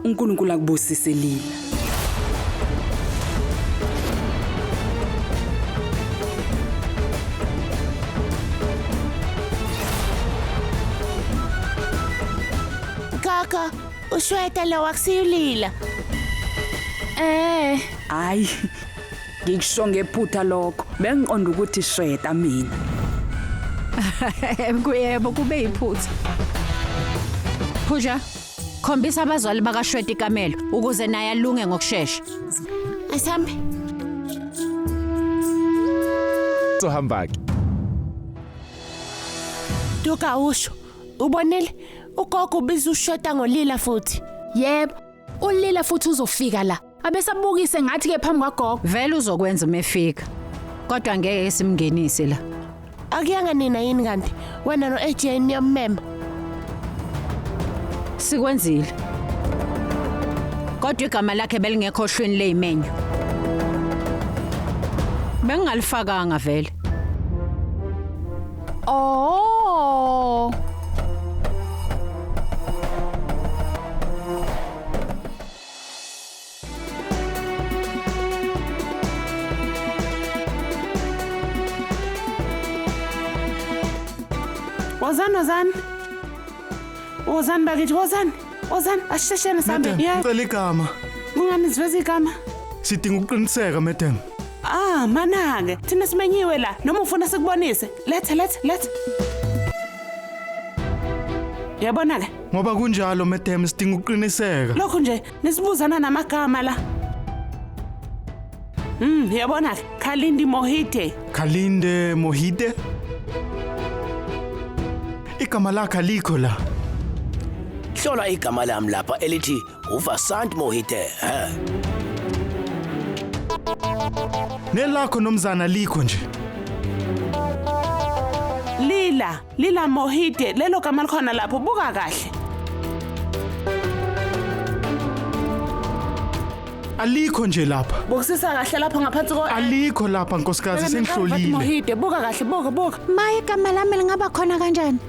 unkulunkulu akubusise lila kaka ushweta lo akusiyulila eh hayi Ngikusho ngephutha lokho. Bengiqonda ukuthi shweta mina. Kuyebo kube iphutha. Phuja, khombisa abazali bakashweta ikamelo ukuze naye alunge ngokusheshsha. Asambe. Sohamba ke. Duka usho. Ubonile? Ugogo ubiza ushota ngolila futhi. Yebo, ulila futhi uzofika la. abesabukise ngathi ke phambi kwagogo vele uzokwenza uma efika kodwa ngeke simngenise la akuyanga nina yini kanti wena no AJ niyammema sikwenzile kodwa igama lakhe belingekho ohlwini lezimenyu bengingalifakanga vele oh Ozan Ozan. Ozan bakithi Ozan. Ozan asheshele sambe. Madam, Yeah. ngicela igama. Kungani siveza igama? Sidinga ukuqiniseka, madam. Ah, manake. Thina simenyiwe la. Noma ufuna sikubonise. Lethe lethe lethe. Yabona ke. Ngoba kunjalo madam sidinga ukuqiniseka. Lokhu nje nisibuzana namagama la. Mm, yabona Khalindi Mohite. Khalinde Mohide? Igama lakhe alikho la. Hlola igama lami lapha elithi uVasant Mohite. He. Nelakho nomzana likho nje. Lila. Lila Mohide lelo gama likhona lapho buka kahle. Alikho nje lapha. Bukisisa kahle lapho ngaphansi ko Alikho lapha nkosikazi Bheka nenkawu, Fatima sengihlolile. Mohide buka kahle buka buka. Maye igama lami lingaba khona kanjani?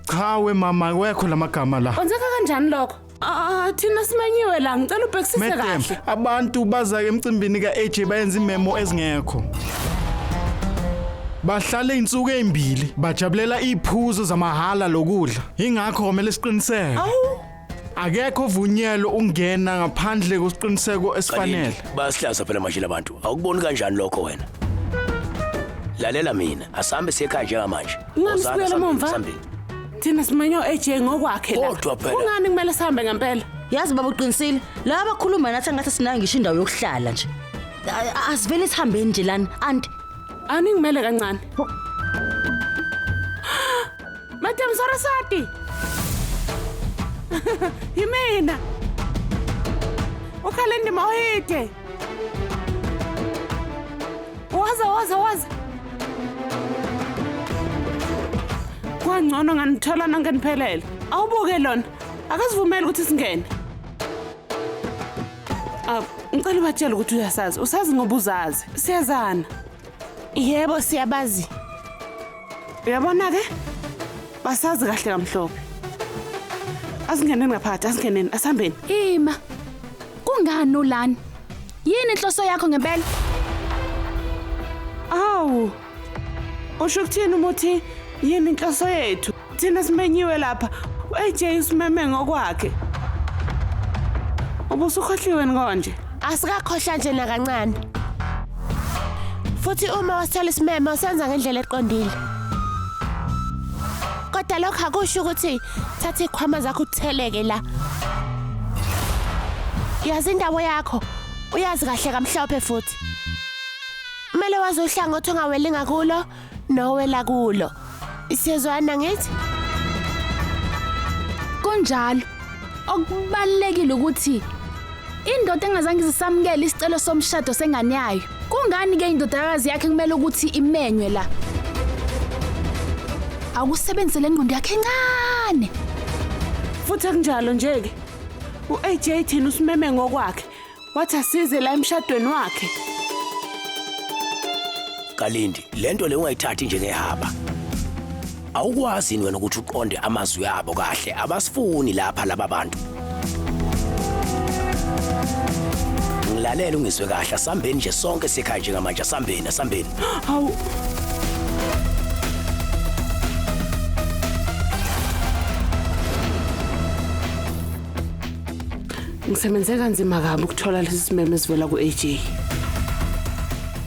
Cha we mama wekho lamagama la. Kwenzeka kanjani lokho? Ah, thina simenyiwe la ngicela ubhekisise Madam, kahle. abantu baza emcimbini ka-AJ bayenza imemo ezingekho. Bahlale insuku ezimbili bajabulela iphuzo zamahhala lokudla. Ingakho komele siqiniseke. Awu, Akekho vunyelo ungena ngaphandle kwesiqiniseko esifanele. Kanini, basihlaza phela manje labantu awukuboni kanjani lokho wena lalela mina asihambe siye ekhaya njengamanje Ungami Wozani, sibuyele sihambeni, emumva? sihambeni. thina simenywa u-aj ngokwakhe la Kodwa phela. kungani kumele sihambe ngempela yazi baba uqinisile laba abakhuluma nathi angathi sinayo ngisho indawo yokuhlala nje A- a- asivele sihambeni nje lana anti aningimele kancane madam sarasati yimina ukhale ndima ohide Waza waza waza. Kwangcono nganithola nonke niphelele. Awubuke lona. Akasivumeli ukuthi singene. Ah, ngicela ubatshele ukuthi uyasazi. Usazi ngoba uzazi. Siyazana. Yebo siyabazi. Uyabona ke? Basazi kahle kamhlophe. Asingeneni ngaphakathi, asingeneni, asihambeni. Ima. Kungani ulani? Yini inhloso yakho ngempela? Awu. Usho ukuthini umuthi yini inhloso yethu? Thina simenyiwe lapha. AJ usimeme ngokwakhe. Ubusukhohliwe konje. Asikakhohlwa nje nakancane. Futhi uma wasithola isimeme usenza ngendlela eqondile. Kodwa lokho akusho ukuthi thatha ikhwama zakho utheleke la. Yazi indawo yakho. Uyazi kahle kamhlophe futhi. Kumele wazi uhlangothi ongaweli ngakulo. nowela kulo siyezwana ngithi kunjalo okubalekile ukuthi indoda engazange izisamukele isicelo somshado sengane yayo kungani ke indodakazi yakhe kumele ukuthi imenywe la awusebenze le ngqondo yakhe encane futhi akunjalo nje-ke u-aj thina usimeme ngokwakhe wathi asize la emshadweni wakhe kalindi lento le ungayithathi njengehaba awukwazi yini wena ukuthi uqonde amazwi abo kahle abasifuni lapha laba bantu ngilalele ungizwe kahle asambeni nje sonke sikhaya njengamanje asambeni asambeni hawu Ngisebenze kanzima kabi ukuthola lesi simeme esivela ku-AJ.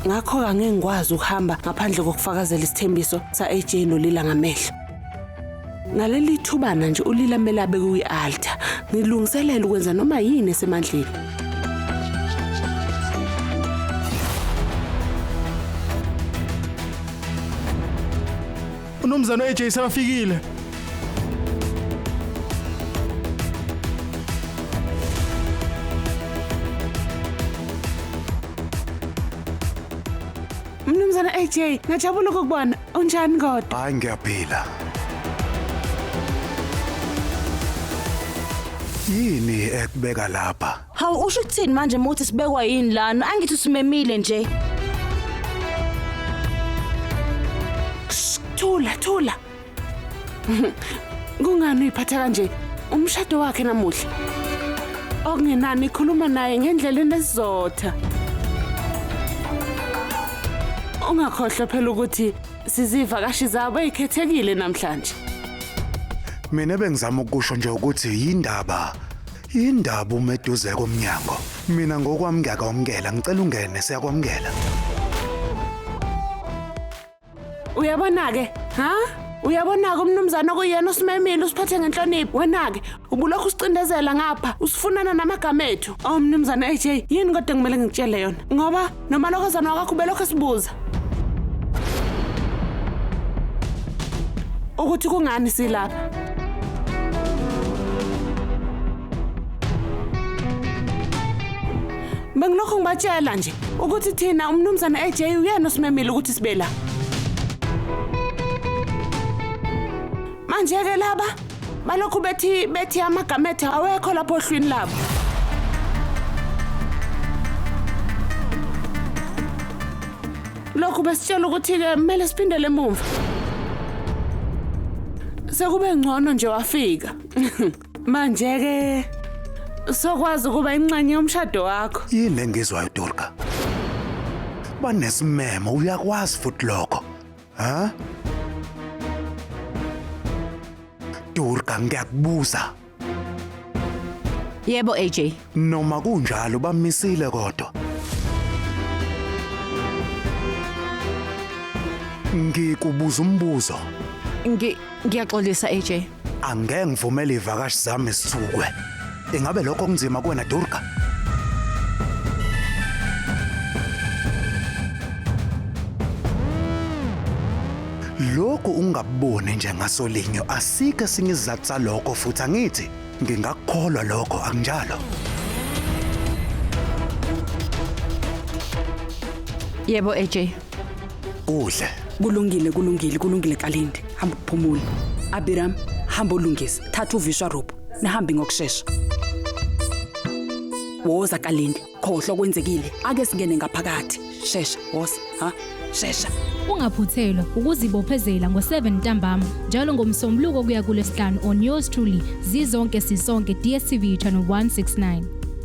Ngakho angeke ngikwazi ukuhamba ngaphandle kokufakazela isithembiso sa-AJ noLila ngamehlo. Ngaleli thubana nje uLila kumele abeke kwi-altar. Ngilungiselela ukwenza noma yini esemandleni. Unumzana AJ sebafikile. Mnumzana AJ, ngajabula ukukubona. Unjani kodwa? Hayi ngiyaphila. Yini ekubeka lapha? Hawu usho ukuthini manje muthi sibekwa yini lana? Angithi usimemile nje. Thula, thula. Kungani uyiphatha kanje? Umshado wakhe namuhla. Okungenani ikhuluma naye ngendlela enesizotha. Ungakhohlwa phela ukuthi sizivakashi zabo ezikhethekile namhlanje. Mina bengizama ukusho nje ukuthi yindaba Indaba uma eduze komnyango. Mina ngokwami ngiyakwamukela, ngicela ungene siyakwamukela. Uyabona-ke, ha? Uyabona-ke umnumzane okuyena osimemile usiphathe ngenhlonipho. Wena-ke ubulokhu usicindezela ngapha, usifunana namagama ethu. Oh mnumzane AJ, yini kodwa kumele ngikutshele yona? Ngoba Nomalokozana wakho ubelokhu esibuza ukuthi kungani silapha. Bengilokhu ngibatshela nje ukuthi thina umnumzane AJ uyena osimemile ukuthi sibe la. Manje-ke laba balokhu bethi bethi amagama ethu awekho lapho ohlwini labo. Lokhu besitshela ukuthi-ke kumele siphindele emumva. Sekube ngcono nje wafika. Manje-ke sokwazi ukuba inxenye yomshado wakho. yini engizwayo durga banesimemo uyakwazi futhi lokho Ha? Durga ngiyakubuza. Yebo AJ. Noma kunjalo bamisile kodwa. Ngikubuza umbuzo. Ngi ngiyaxolisa AJ. Angeke ngivumele ivakashi zami sithukwe. Ingabe lokho kunzima kuwena Durga? Lokhu ungaboni nje ngasolinyo asike esinye isizathu salokho futhi angithi ngingakukholwa lokho akunjalo. Yebo AJ, udle kulungile kulungile kulungile kalindi hamba uphumule abiram hamba olungisa thatha uvisha rope nihambe ngokushesha woza kalindi khohlwa kwenzekile ake singene ngaphakathi shesha woza ha shesha Ungaphuthelwa ukuzibophezela ngo-7 ntambama njalo ngomsombuluko kuya kulesihlanu on yours truly zizonke sisonke DStv channel 169.